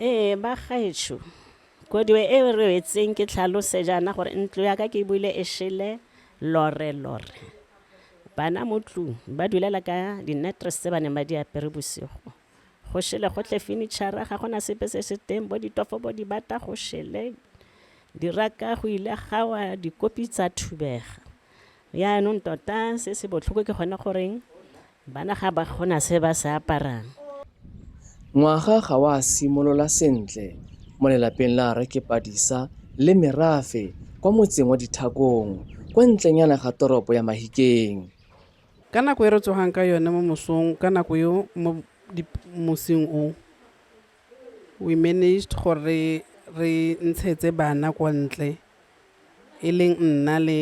Ee, ba gaetsho, koduwe e e rwetseng ke tlhalose jaana gore ntlo ya ka ke buile e shele lore lore. Bana mo tlung ba dulela ka di-netres tse ba neng ba di apere bosigo. Go shele gotlhe fenitšhara, ga gona sepe se se teng, bo ditofo bo di bata go shele, diraka go ile ga wa dikopi tsa thubega. Yaanong tota se se botlhoko ke gone goreng Bana ga ba kgona se ba se aparang. Ngwaga ga wa simolola sentle mo lelapeng la Rre Kepadisa le Merafe kwa motseng wa Dithakong kwa ntlenyana ga toropo ya Mahikeng. Ka nako e re tsogang ka yone mo mosong ka nako eo mo mosing o We managed gore re ntshetse bana kwa ntle, e leng nna le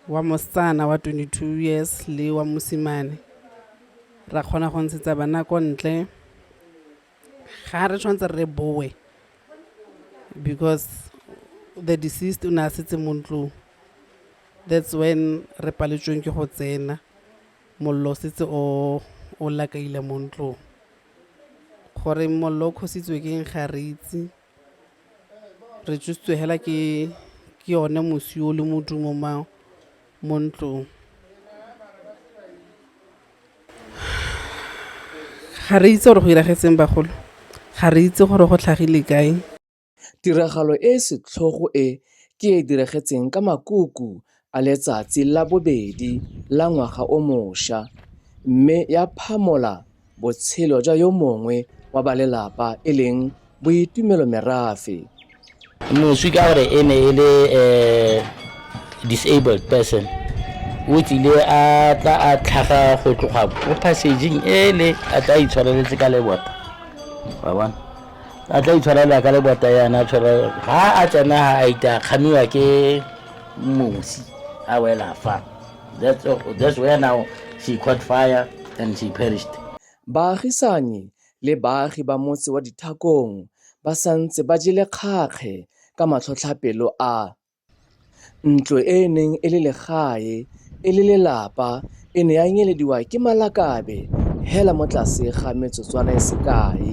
wa mosetsana wa 22 years le wa mosimane. Ra kgona go ntshetsa bana ko ntle, ga re tshwanetse re boe because the deceased o ne a setse mo ntlong, that's when re paletsweng ke go tsena. Mollo o setse o o lakaile mo ntlong. Gore mollo o kgositswe ke eng ga re itse, re tšositswe fela ke yone mosi o le modumo mo ntlong. Ga re itse gore go diragetseng bagolo, ga re itse gore go tlhagile kae. Tiragalo e e setlhogo e ke e e diragetseng ka makuku a letsatsi la bobedi la ngwaga o mosha mme ya phamola botshelo jwa yo mongwe wa ba lelapa e leng Boitumelo Merafe. Moswi ka gore e ne e le um disabled person o tsile a tla a tlhaga go tloga mo passageng ele a tla itshwareletse ka lebota wa bona a tla itshwarela ka lebota yana a tshwara ga a tsena ga a ita kgamiwa ke mosi a wela fa that's, that's where now she caught fire and she perished baagisani le baagi ba motse wa dithakong ba santse ba jele kgakge ka matlhotlhapelo a Ntlo e e neng e le legae e le lelapa e ne ya nyelediwa ke malakabe hela mo tlase ga metsotswana e sekae.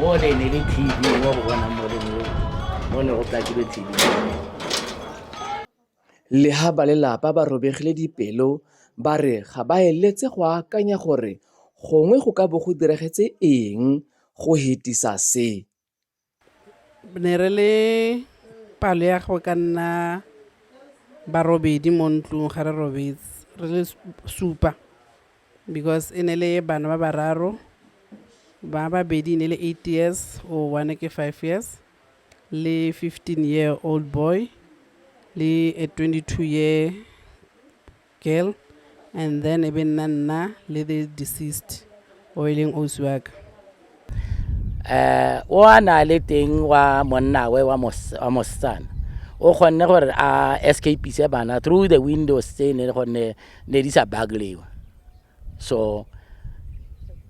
mo ne ne le tv wa go bona mo mo ne go plakile tv le ha ba lelapa ba robegile dipelo ba re ga ba eletse go akanya gore gongwe go ka bo go diragetse eng go hetisa se ne re le palo ya go ka nna barobedi mo ntlong ga re robetse re le supa because e ne le bana ba bararo ba babedi ne le eight years o one ke five years le fifteen year old boy le a twenty two year girl and then e be nna nna le the deceased o e leng osi wa ka um o a na le teng wa monnawe wa mosetsana o kgonne gore a escapise bana through the windows tse ne gonne ne di sa baglewa so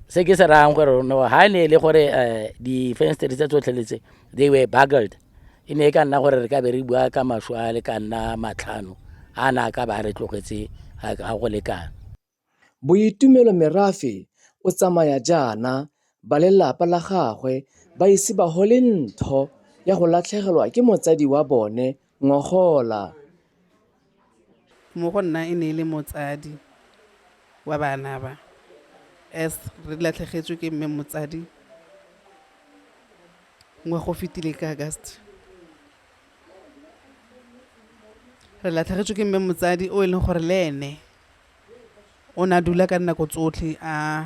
se ke se rayang gore no ha ne e le gore um di-fensteri tse tsotlheletse they were bugled e ne e ka nna gore re ka be re bua ka maswe a le ka nna matlhano a na ka ba re tlogetse ga go lekana boitumelo merafe o tsamaya jaana ba lelapa la gagwe ba ise ba gole ntho ya go latlhegelwa ke motsadi wa bone ngogola Mo go nna e ne e le motsadi wa bana ba, as re latlhegetswe ke mme motsadi ngwaga o fetile ka August. Re latlhegetswe ke mme motsadi o e leng gore le ene. O ne a dula ka dinako tsotlhe a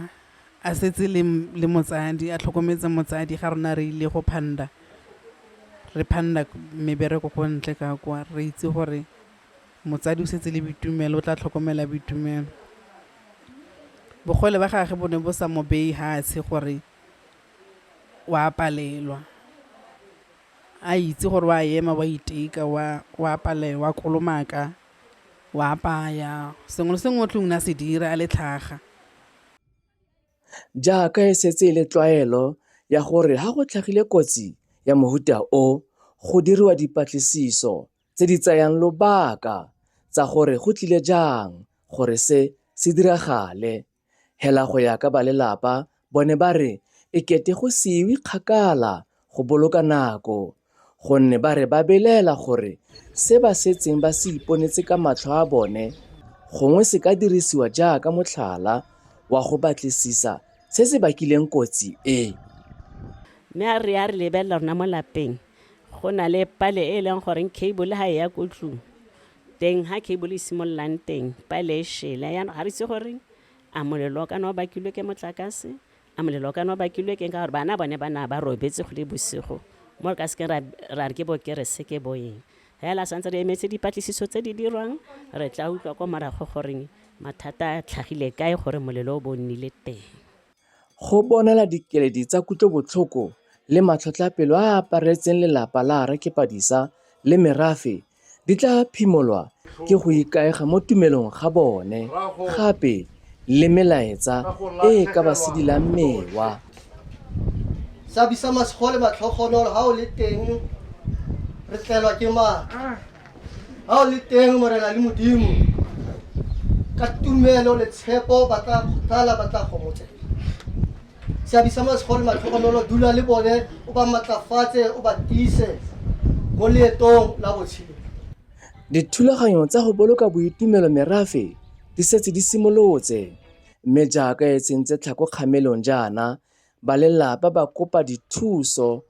a setse le le motsadi, a tlhokometse motsadi ga rona re ile go phanda. Re phanda mebereko ko ntle ka kwa, re itse gore motsadi o setse le Boitumelo, o tla tlhokomela Boitumelo. Bogole ba gage bo ne bo sa mo beye fatshe gore o a palelwa, a itse gore o a ema, o a iteka, o a palelwa, o a kolomaka. O a apaya, sengwe le sengwe o tlong na se dira a le tlhaga. Jaaka e setse e le tlwaelo ya gore ha go tlhagile kotsi ya mohuta o, go diriwa dipatlisiso tse di tsayang lobaka tsa gore go tlile jang gore se se diragale. Hela go ya ka balelapa bone ba re e kete go se iwe kgakala go boloka nako gonne ba re ba belaela gore se ba setseng ba se iponetse ka matlho a bone gongwe se ka dirisiwa jaaka motlhala wa go batlisisa se se bakileng kotsi e. Mme a re a re lebelela rona mo lapeng go na le pale e e leng goreng cable ga e ya ko tlung Teng ha cable e simololang teng, pale e shele. Yaanong ga re itse gore a molelo o kana o bakilwe ke motlakase, a molelo o kana o bakilwe keng ka gore bana bone ba na ba robetse go le bosigo mo re ka sekeng ra ra re ke bokerese ke bo eng fela santse re emetse dipatlisiso tse di dirwang re tla utlwa kwa morago goreng mathata a tlhagile kae gore molelo o bo nnile teng Go bonela dikeledi tsa kutlobotlhoko le matlhotlhapelo a a aparetseng lelapa la Rre Kepadisa le merafe Di tla phimolwa ke go ikaega mo tumelong ga bone gape le melaetsa e e ka ba sedilang mewa. Sabisa masego le matlhogonolo ha o le teng, re tlelwa ke maatla. Ha o le teng, Morena le Modimo, ka tumelo le tshepo ba tla kgothala, ba tla gomotsa. Seabi sa Masego le Matlhogonolo, Dula le bone, o ba matlafatse, o ba tiise mo leetong la botshelo. Dithulaganyo tsa go boloka boitumelo merafe di setse di simolotse, mme jaaka e sentse tlhako kgamelong jaana, balelapa ba kopa dithuso